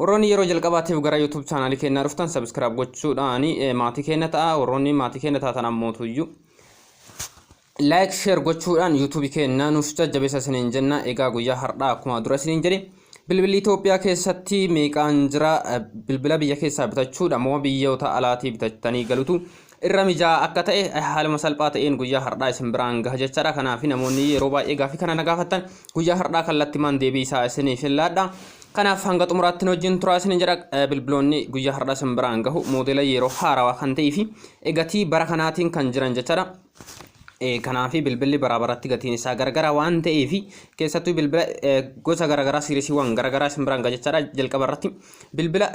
Warroonni yeroo jalqabaatiif gara YouTube chaanaalii keenyaa dhuftan subscribe gochuudhaan eh, maatii keenya ta'a. Warroonni maatii keenya taatan ammootuyyuu like share gochuudhaan YouTube keenya nuuf jajjabeessa isiniin jenna. Egaa guyyaa har'aa akkuma dura isiniin jedhe bilbilli Itoophiyaa keessatti meeqaan jira Eh, bilbila biyya keessaa bitachuudha moo biyyoota alaatii bitattanii galutu irra mijaa'aa akka ta'e haaluma salphaa ta'een guyyaa har'aa isin biraan gaha jechaadha. Kanaaf namoonni yeroo baay'ee gaaffii kana na gaafattan guyyaa har'aa kallattimaan deebii isaa isiniif hin laadha. Kanaaf hanga xumuraatti wajjin turaa isin jedha bilbiloonni guyyaa har'aa isin biraan gahu moodela yeroo haarawaa kan ta'ee fi gatii bara kanaatiin kan jiran jechaadha. Kanaaf bilbilli baraa baratti gatiin isaa garagara waan ta'eef keessattuu bilbila gosa garagaraa siirisiiwwan garagaraa isin biraan gaha jechaadha jalqaba irratti bilbila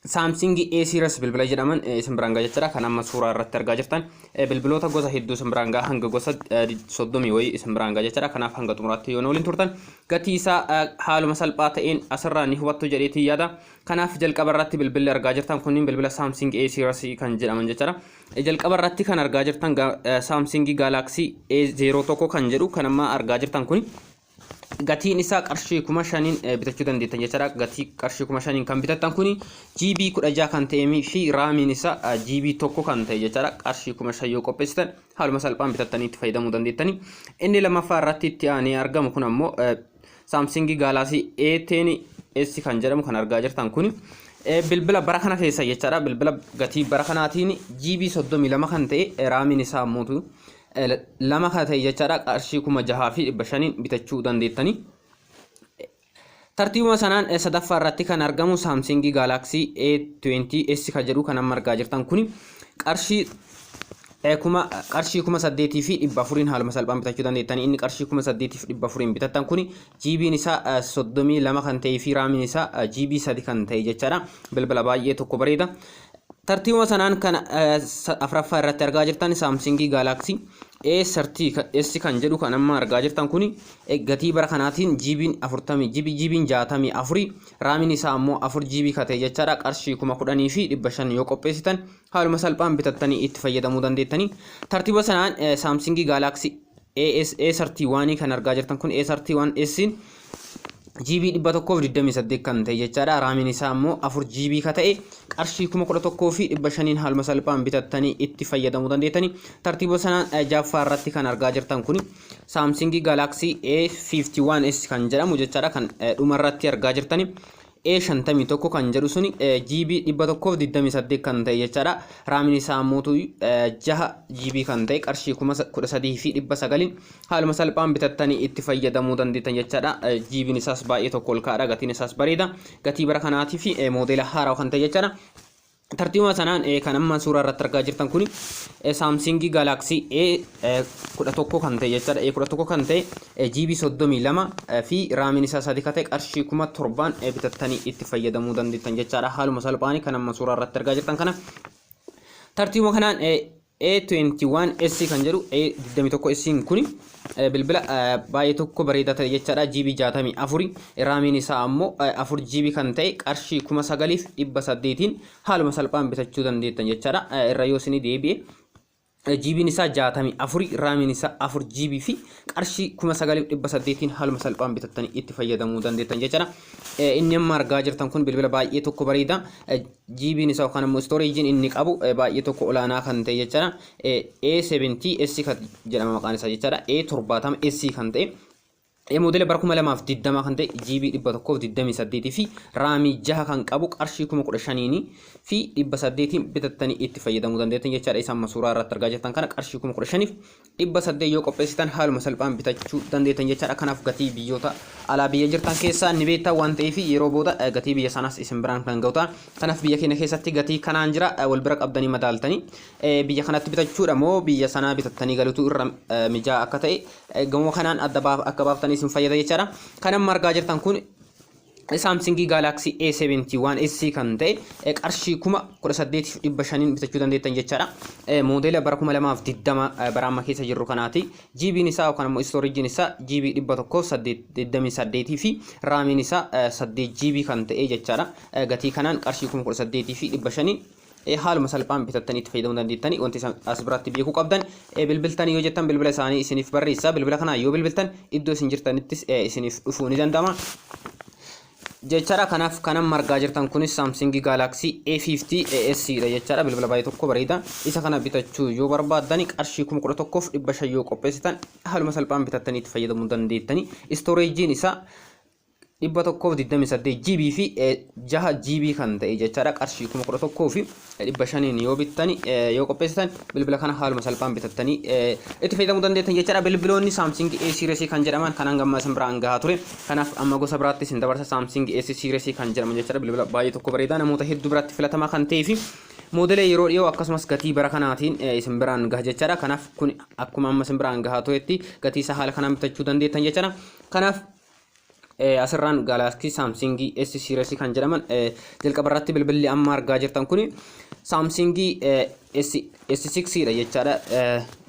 Samsung A series bilbila jedhaman eh, isin biraan ga'a jechuudha kan amma suuraa irratti argaa jirtan Eh, bilbiloota gosa hedduu isin biraan ga'a hanga gosa eh, di- soddomii wayii isin biraan ga'a jechuudha kanaaf hanga xumuraatti yoo nu waliin turtan gatii isaa eh, haaluma salphaa ta'een asirraa ni hubattu jedheetii yaada kanaaf jalqaba irratti bilbilli argaa jirtan kunniin bilbila Samsung A series kan jedhaman jechuudha Eh, jalqaba irratti kan argaa jirtan ga- eh, Samsung Galaxy A01 kan jedhu kan amma argaa jirtan kun gatiin isaa qarshii kuma shaniin eh, bitachuu dandeettan jechaadha gatii qarshii kuma shaniin kan bitattan kuni GB kudha jaha kan ta'ee fi raamiin isaa eh, GB tokko kan ta'e jechaadha qarshii kuma shan yoo qopheessitan haaluma salphaan bitattanii itti fayyadamuu dandeettani inni lammaffaa irratti itti aanee argamu kun ammoo eh, Samsung Galaxy A10 S kan jedhamu kan argaa jirtan kuni Eh, bilbila bara kana keessa jechaadha bilbila gatii bara kanaatiin GB 32 kan ta'e eh, raamiin isaa ammoo lama ka ta'e jechaadha qarshii kuma jahaa fi dhibba shaniin bitachuu dandeettanii. Tartiibuma sanaan sadaffaa irratti kan argamu Samsung Galaxy A20s ka jedhu kan amma argaa jirtan kuni qarshii kuma qarshii kuma saddeetii fi dhibba afuriin haaluma salphaan bitachuu dandeettanii inni qarshii kuma saddeetii fi dhibba afuriin bitattan kuni jiibiin isaa soddomii lama kan ta'ee fi raamiin isaa jiibii sadi kan ta'e jechaadha bilbila baay'ee tokko bareeda. Tartiibuma sanaan kan afraffaa irratti argaa jirtan saamsingii gaalaaksii A30S kan jedhu kan amma argaa jirtan kuni gatii bara kanaatiin jiibiin 40 jiibii jiibiin 64 raamiin isaa ammoo 4 jiibii katee jechaadha qarshii 10,000 fi 500 yoo qopheessitan haaluma salphaan bitattanii itti fayyadamuu dandeettanii tartiiba sanaan saamsingii gaalaaksii A31 kan argaa jirtan kun A31S GB 128 kan ta'e jechaadha. Raamiin isaa immoo 4 GB ka ta'e qarshii 11,500 haaluma salphaan bitattanii itti fayyadamuu dandeettani. Tartiiba sanaan jaffaa irratti kan argaa jirtan kun Samsung Galaxy A51s kan jedhamu jechaadha kan dhuma irratti argaa jirtani. E 51 kan jedhu suni GB 128 kan ta'e jechaadha. Raamiin isaa ammoo 6 GB kan ta'e qarshii 13,900 haaluma salphaan bitattanii itti fayyadamuu dandeettan jechaadha. GB'n isaas baay'ee tokko ol ka'aadha. Gatiin isaas bareeda. Gatii bara kanaatii fi moodeela haaraa kan ta'e jechaadha. Tartiibuma sanaan kan amma suuraa irratti argaa jirtan kun Samsung Galaxy A11 kan ta'e jechaadha. A11 kan ta'e GB 32 fi raamiin isaa sadii kan ta'e qarshii kuma torbaan bitattanii itti fayyadamuu dandeettan jechaadha. Haaluma salphaan kan amma suuraa irratti argaa jirtan kana tartiibuma kanaan A21S kan jedhu A21S kuni bilbila baay'ee tokko bareedaa ta'e jechaadha GB 64 raamiin isaa ammoo 4 GB kan ta'e qarshii 9800tiin haaluma salphaan bitachuu dandeettan jechaadha irra yoo isinii deebi'e GB'n isaa 64 raamiin isaa 4 GB fi qarshii 9800tiin haaluma salphaan bitattanii itti fayyadamuu dandeettan jechaadha inni amma argaa jirtan kun bilbila baay'ee tokko bareeda GBn isaa yookaan immoo storage inni qabu baay'ee tokko olaanaa kan ta'e jechaadha. A70 S kan jedhama maqaan isaa jechaadha. A70 S kan ta'e Moodela bara 2020 kan ta'e GB 128 fi raamii 6 kan qabu qarshii 15,000 fi 800 bitattanii itti fayyadamuu dandeettan jechaadha. Isa amma suuraa irratti argaa jirtan kana qarshii 15,000 dhibba saddeet yoo qopheessitan haaluma salphaan bitachuu dandeettan jechaadha. Kanaaf gatii biyyoota alaa biyya jirtan keessaa ni beektaa waan ta'eef yeroo booda gatii biyya sanaas isin biraan kan ga'u ta'a. Kanaaf biyya keenya keessatti gatii kanaan jira wal bira qabdanii madaaltanii biyya kanatti bitachuudha moo biyya sanaa bitattanii galutu irra mijaa akka ta'e gamoo kanaan adda akka baaftanii isin fayyada jechaadha. Kan amma argaa jirtan kun Saamsingii Gaalaaksii A71S kan ta'e qarshii kuma 18,500n bitachuu dandeettan jechaadha. Moodeela bara 2020 bara amma keessa jirru kanaati. GB'n isaa yookaan immoo istoorijiin isaa GB 128 fi raamiin isaa 8 GB kan ta'e jechaadha. Gatii kanaan qarshii kuma 18,500n haaluma salphaan bitattanii itti fayyadamuu dandeettanii wanti isaan as biratti beekuu qabdan bilbiltanii yoo jettan bilbila isaanii isiniif barreessa bilbila kanaa yoo bilbiltan iddoo isin jirtanittis isiniif dhufuu ni danda'ama. Jechaadha kanaaf kanan margaa jirtan kunis saamsingii gaalaksii A50S dha jechaadha bilbila baay'ee tokko bareeda isa kana bitachuu yoo barbaaddan qarshii kuma kudha tokkoof dhibba shan yoo qopheessitan haaluma salphaan bitattanii itti fayyadamuu dandeettanii istooreejiin isaa 128 GB fi 6 GB kan ta'e jechaadha qarshii 11 fi 500 yoo bittani yoo qopheessitan bilbila kana haaluma salphaan bitattanii itti fayyadamuu dandeettan jechaadha bilbiloonni Samsung A series kan jedhaman kan hanga ammaa isin biraan gahaa ture kanaaf amma gosa biraatti isin dabarsa Samsung S series kan jedhaman jechaadha bilbila baay'ee tokko bareedaa namoota hedduu biratti filatamaa kan ta'ee fi moodelee yeroo dhiyoo akkasumas gatii bara kanaatiin isin biraan gaha jechaadha kanaaf kun akkuma amma isin biraan gahaa turetti gatii isaa haala kanaan bitachuu dandeettan jechaadha kanaaf asirraan gaalaastii saamsingii S series kan jedhaman jalqaba irratti bilbilli amma argaa jirtan kun saamsingii S6 dha jechaadha.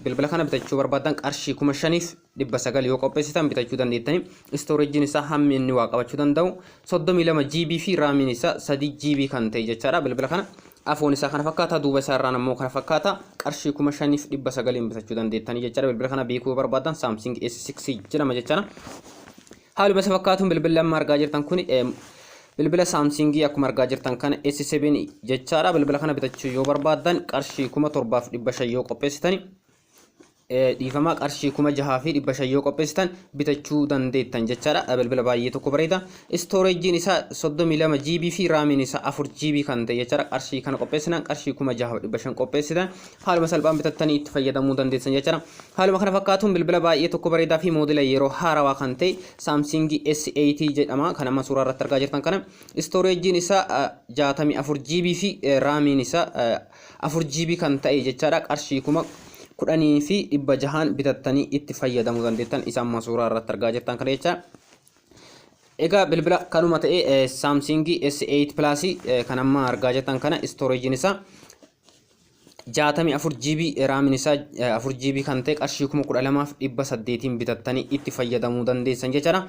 Bilbila kana bitachuu barbaadan qarshii kuma shaniif dhibba sagal yoo qopheessitan bitachuu dandeettani. Istooreejiin isaa hammi inni waa qabachuu danda'u soddomii lama GB fi raamiin isaa sadii GB kan ta'e jechaadha. Bilbila kana Afoon isaa kana fakkaata duuba isaa irraan ammoo kana fakkaata qarshii kuma shaniif dhibba sagaliin bitachuu dandeettanii jechaadha bilbila kana beekuu yoo barbaaddan saamsing S6 jedhama jechaadha. Haaluma isa fakkaatuun bilbilli amma argaa jirtan kun bilbila saamsingii akkuma argaa jirtan kana S7 jechaadha bilbila kana bitachuu yoo barbaaddan qarshii kuma torbaaf dhibba shan yoo qopheessitani dhiifama qarshii kuma jahaa fi dhibba shan yoo qopheessitan bitachuu dandeettan jechaadha bilbila baay'ee tokko bareeda istooreejiin isaa soddomii lama GB fi raamiin isaa afur GB kan ta'e jechaadha qarshii kana qopheessinan qarshii kuma jahaa fi dhibba shan qopheessitan haaluma salphaan bitattanii itti fayyadamuu dandeessan jechaadha haaluma kana fakkaatuun bilbila baay'ee tokko bareedaa fi moodela yeroo haarawaa kan ta'e saamsiingii S8 jedhama kan amma suuraa irratti argaa jirtan kana istooreejiin isaa jaatamii afur GB fi raamiin isaa afur GB kan ta'e jechaadha qarshii kuma kudhanii fi dhibba jahaan bitattanii itti fayyadamuu dandeettan isa amma suuraa irratti argaa jirtan kana jecha Egaa bilbila kanuma ta'e eh, Samsung S8 Plus eh, kan amma argaa jirtan kana storage isaa 64 GB raamin isaa eh, 4 GB kan ta'e qarshii 12800 bitattanii itti fayyadamuu dandeessan jechaadha.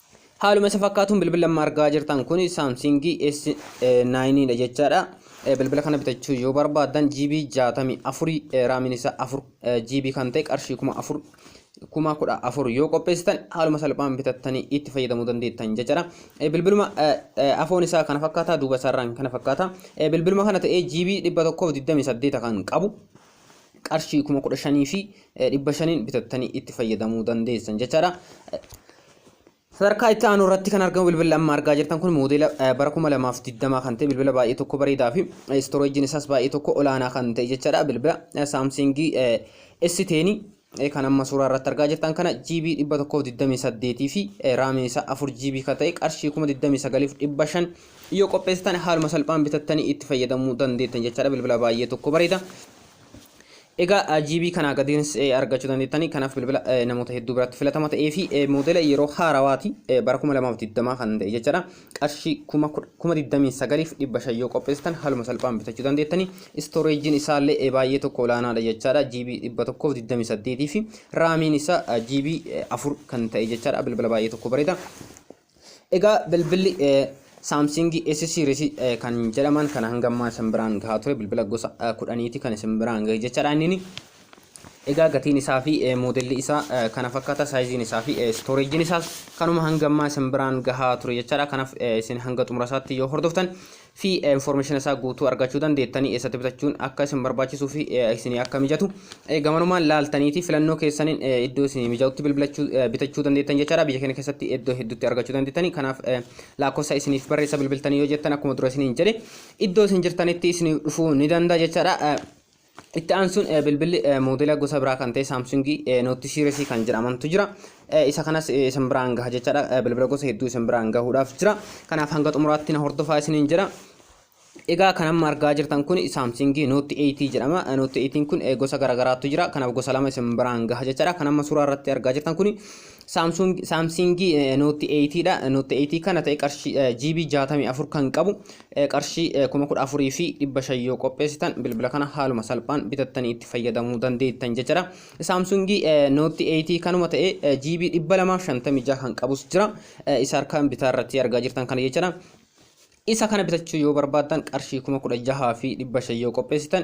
Haaluma isa fakkaatuun bilbila amma argaa jirtan kun Samsung S9 dha jechaadha. Bilbila kana bitachuu yoo barbaaddan GB 64 raamiin isaa 4 GB kan ta'e qarshii 4000 kuma kudha afur yoo qopheessitan haaluma salphaan bitattanii itti fayyadamuu dandeettan jechaadha. Bilbiluma afoon isaa kana fakkaata duuba isaarraan kana fakkaata. Bilbiluma kana ta'ee GB 128 kan qabu qarshii kuma kudha shanii fi dhibba shaniin bitattanii itti fayyadamuu dandeessan jechaadha. Sadarkaa itti aanu irratti kan argamu bilbila amma argaa jirtan kun moodeela bara kuma lamaaf digdamaa kan ta'e bilbila baay'ee tokko bareedaa fi istooreejiin isaas baay'ee tokko olaanaa kan ta'e jechaadha. Bilbila saamsingii S10 kan amma suuraa irratti argaa jirtan kana GB 128 fi raamii isaa 4 GB kan ta'e qarshii 29,500 yoo qopheessitan haaluma salphaan bitattanii itti fayyadamuu dandeettan jechaadha bilbila baay'ee tokko bareeda. Egaa GB kanaa gadiinis argachuu dandeettanii kanaaf bilbila namoota hedduu biratti filatama ta'ee fi moodela yeroo haarawaati bara 2020 kan ta'e jechaadha. qarshii 29,500 yoo qopheessitan haaluma salphaan bitachuu dandeettanii istooreejiin isaa illee baay'ee tokko olaanaadha jechaadha GB 128 fi raamiin isaa GB 4 kan ta'e jechaadha bilbila baay'ee tokko bareeda egaa bilbilli Samsung S series kan jedhaman kan hanga ammaa isin biraan gahaa ture bilbila gosa kudhaniiti kan isin biraan gahe jechaadha inni Egaa gatiin isaa fi moodelli isaa kana fakkaata saayiziin isaa fi stooreejiin isaas kanuma hanga ammaa isin biraan gahaa ture jechaadha kanaaf isin hanga xumura isaatti yoo hordoftan fi information isaa guutuu argachuu dandeettanii eessatti bitachuun akka isin barbaachisuu fi isin akka mijatu gamanumaan laaltaniiti filannoo keessaniin iddoo isin mijatutti bilbilachuu bitachuu dandeettan jechaadha biyya keenya keessatti iddoo hedduutti argachuu dandeettanii kanaaf lakkoofsa isiniif barreessa bilbiltanii yoo jettan akkuma dura isiniin jedhe iddoo isin jirtanitti isiniif dhufuu ni danda'a jechaadha Itti aansuun bilbilli moodela gosa biraa kan ta'e Saamsungii Note Series kan jedhamantu jira. Isa kanas isin biraan gaha jechaadha. Bilbila gosa hedduu isin biraan gahuudhaaf jira. Kanaaf hanga xumuraatti na hordofaa isiniin jedha. Egaa kan amma argaa jirtan kun Saamsungii Note 8 jedhama. Note 8 kun gosa garaagaraatu jira. Kanaaf gosa lama isin biraan gaha jechaadha. Kan amma suuraa irratti argaa jirtan kun Saamsungii Note 8 dha. Note 8 kana ta'e qarshii GB 64 kan qabu Qarshii 14,500 yoo qopheessitan bilbila kana haaluma salphaan bitattanii itti fayyadamuu dandeettan jechuudha. Saamsungii Note 8 kanuma ta'ee GB 256 kan qabus jira. Isa harkaan bitaa irratti argaa jirtan kana jechuudha. Isa kana bitachuu yoo barbaaddan qarshii 16,500 yoo qopheessitan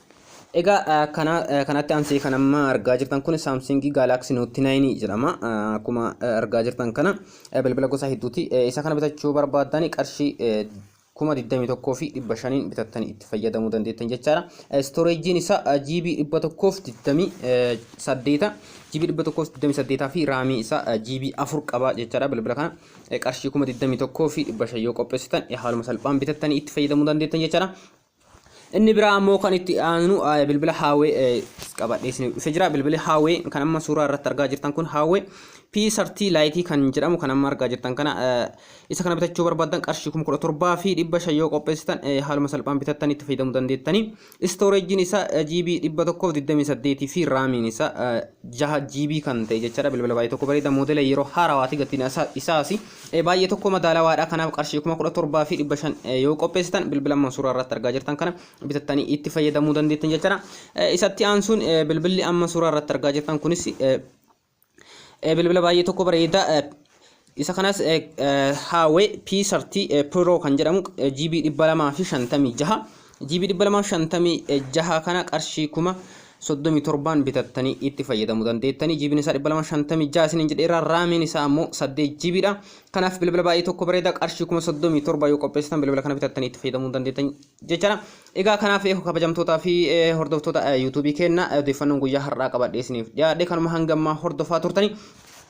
Egaa kana kanatti aansee kan amma argaa jirtan kun Samsung Galaxy Note 9 jedhama. Akkuma argaa jirtan kana bilbila gosa hedduuti. Isa kana bitachuu barbaaddan qarshii kuma 21 fi 500 bitattanii itti fayyadamuu dandeettan jechaadha. Storage isaa GB 128 GB 128 fi raamii isaa GB 4 qaba jechaadha bilbila kana. Qarshii kuma 21 fi 500 yoo qopheessitan haaluma salphaan bitattanii itti fayyadamuu dandeettan jechaadha. Inni biraa ammoo kan itti aanu bilbila haawee qabadhee isiniif dhufe jira. Bilbili haawee kan amma suuraa irratti argaa jirtan kun haawee P30 laayitii kan jedhamu kan amma argaa jirtan kana isa kana bitachuu barbaadan qarshii kuma kudha torbaa fi dhibba shan yoo qopheessitan haaluma salphaan bitattanii itti fayyadamuu dandeettanii. Istooreejiin isaa GB dhibba tokkoof digdamii saddeetii fi raamiin isaa jaha GB kan ta'e jechaadha bilbila baay'ee tokko bareeda moodela yeroo haarawaati gatiin isaas baay'ee tokko madaalawaadha kanaaf qarshii kuma kudha torbaa fi dhibba shan yoo qopheessitan bilbila amma suuraa irratti argaa jirtan kana bitattanii itti fayyadamuu dandeettan jechuudha isatti aansuun bilbilli amma suuraa irratti argaa jirtan kunis bilbila baay'ee tokko bareeda isa kanas haawee P30 Pro kan jedhamu GB 256 GB 256 kana qarshii kuma 37n bitattanii itti fayyadamu dandeettanii jibiin isaa 256 isiniin jedheera raamiin isaa ammoo 8 GB dha kanaaf bilbila baay'ee tokko bareeda qarshii kuma 37 yoo qopheessitan bilbila kana bitattanii itti fayyadamuu dandeettan jechaadha egaa kanaaf kabajamtootaa fi hordoftoota yuutuubii keenna odeeffannoon guyyaa har'aa qabadhee isiniif dhiyaadhe kanuma hangammaa hordofaa turtanii